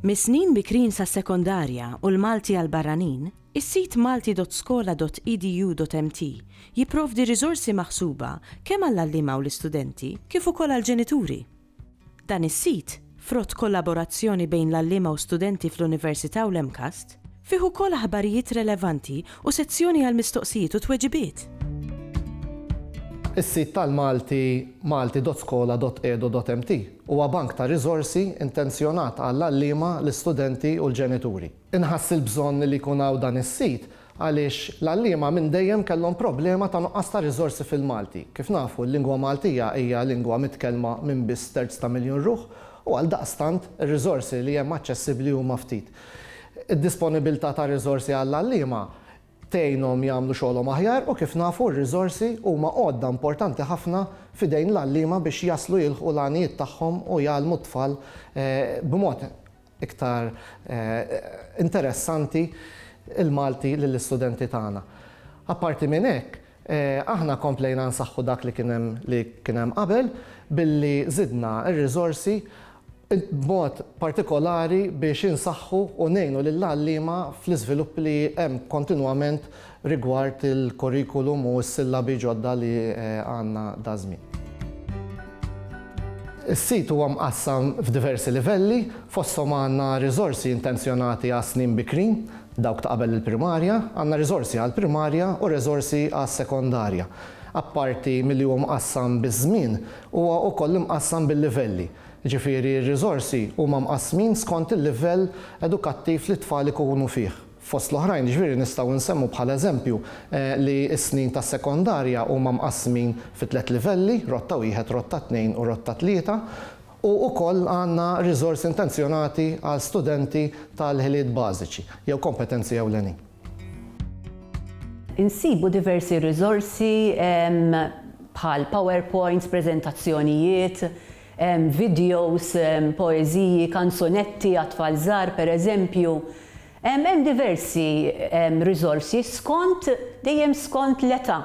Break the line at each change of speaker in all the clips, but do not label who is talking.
Mis-snin bikrin sas-sekondarja u l-Malti għall-barranin, is-sit malti.skola.edu.mt jipprovdi riżorsi maħsuba kemm għall-għalliema u l-istudenti kif ukoll għall-ġenituri. Dan is-sit, frott kollaborazzjoni bejn l-għalliema u studenti fl-Università u l-MCAST, fih ukoll aħbarijiet relevanti u sezzjoni għal mistoqsijiet u tweġibiet.
Is-sit tal-Malti malti.skola.edu.mt huwa bank ta' riżorsi intenzjonat għall-għalliema, l-istudenti u l-ġenituri. Inħass il-bżonn li jkun hawn dan is-sit Għaliex l-għalliema minn dejjem kellhom problema ta' nuqqas ta' riżorsi fil-Malti. Kif nafu, l-lingwa Maltija hija lingwa mitkellma minn biss terz ta' miljun ruħ u għaldaqstant ir-riżorsi li hemm aċċessibbli huma ftit. Id-disponibilità ta' riżorsi għall-għalliema tgħinhom jagħmlu xogħolhom aħjar u kif nafu r-riżorsi huma għodda importanti ħafna f'idejn l-għalliema biex jaslu jilħqu l-għanijiet tagħhom u jgħallmu t-tfal b'mod iktar interessanti l-Malti lill-istudenti tagħna. Apparti minn hekk, aħna komplejna nsaħħu dak li kien hemm li kien hemm qabel billi żidna r-riżorsi b'mod partikolari biex insaħħu u ngħinu lill-għalliema fl-iżvilupp li hemm kontinwament rigward il-curriculum u s-sillabi ġodda li għandna daż-żmien. Is-sit huwa mqassam f'diversi livelli, fosthom għandna riżorsi intenzjonati għas-snin bikrin, dawk ta' qabel il-primarja, għandna riżorsi għall-primarja u riżorsi għas-sekondarja. Apparti milli huwa mqassam biż-żmien, huwa wkoll imqassam bil-livelli, jiġifieri r-riżorsi huma mqassmin skont il-livell edukattiv li t-tfal ikunu fih. Fost l-oħrajn, jiġifieri, nistgħu nsemmu bħala eżempju li s-snin tas-sekondarja huma mqassmin fi tliet livelli, Rotta Wieħed, Rotta Tnejn u Rotta Tlieta, u wkoll għandna riżorsi intenzjonati għal studenti tal-ħiliet bażiċi jew kompetenzi ewlenin.
Insibu diversi riżorsi bħal powerpoints, preżentazzjonijiet, videos, poeżiji, kanzunetti għat-tfal żgħar, pereżempju. Hemm diversi riżorsi skont, dejjem skont l-età.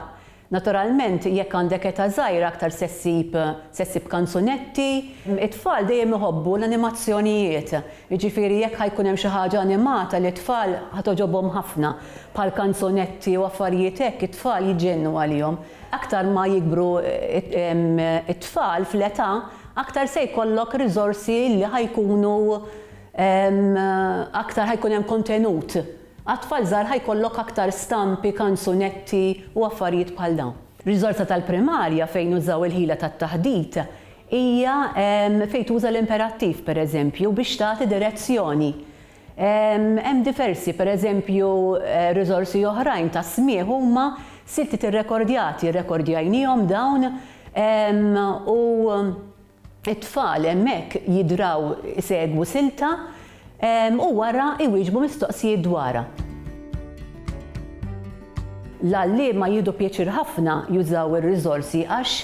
Naturalment, jekk għandek età żgħira aktar se ssib, se ssib kanzunetti. It-tfal dejjem iħobbu l-animazzjonijiet, jiġifieri jekk ħa jkun hemm xi ħaġa animata lit-tfal ħa togħġobhom ħafna, bħall-kanzunetti u affarijiet hekk, it-tfal jġennu għalihom. Aktar ma jikbru t-tfal fl-età, aktar se jkollok riżorsi li ħa jkunu aktar ħa jkun hemm kontenut. Għat-tfal żgħar ħa jkollok aktar stampi, kanzunetti u affarijiet bħal dawn. Riżorsa tal-primarja fejn nużaw il-ħila tat-taħdit hija fejn tuża l-imperattiv, pereżempju, biex tagħti direzzjoni. Hemm diversi, pereżempju, riżorsi oħrajn ta' smigħ huma siltiet irrekordjati, rrekordjajniehom dawn u t-tfal hemmhekk jidraw isegwu silta u wara jwieġbu mistoqsijiet dwarha. L-għalliema jieħdu pjaċir ħafna jużaw ir-riżorsi għax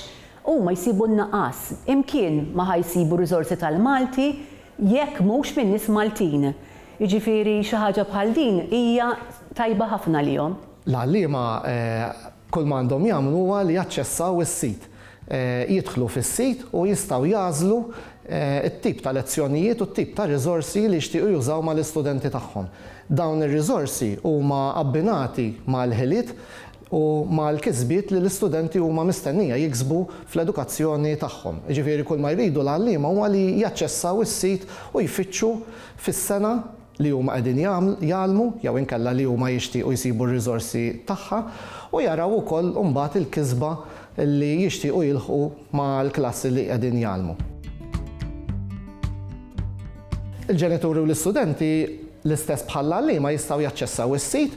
huma jsibu n-naqas. Imkien ma ħa jsibu riżorsi tal-Malti jekk mhux minn nies Maltin. Jiġifieri xi ħaġa bħal din hija tajba ħafna għalihom. L-għalliema
kulma għandhom jagħmlu huwa li jaċċessaw is-sit. Jidħlu fis-sit u jistgħu jagħżlu t-tip ta' lezzjonijiet u t-tip ta' riżorsi li jixtiequ jużaw mal-istudenti tagħhom. Dawn ir-riżorsi huma abbinati mal-ħiliet u mal-kisbiet li l-istudenti huma mistennija jiksbu fl-edukazzjoni tagħhom. Jiġifieri kull ma jridu l-għalliema huwa li jaċċessaw is-sit u jfittxu fis-sena li huma qegħdin jgħallmu jew inkella li huma jixtiequ jsibu r-riżorsi tagħha u jaraw ukoll imbagħad il-kisba li jixtiequ jilħqu mal-klassi li qegħdin jgħallmu. Il-ġenituri u l-istudenti, l-istess bħall-għalliema, jistgħu jaċċessaw is-sit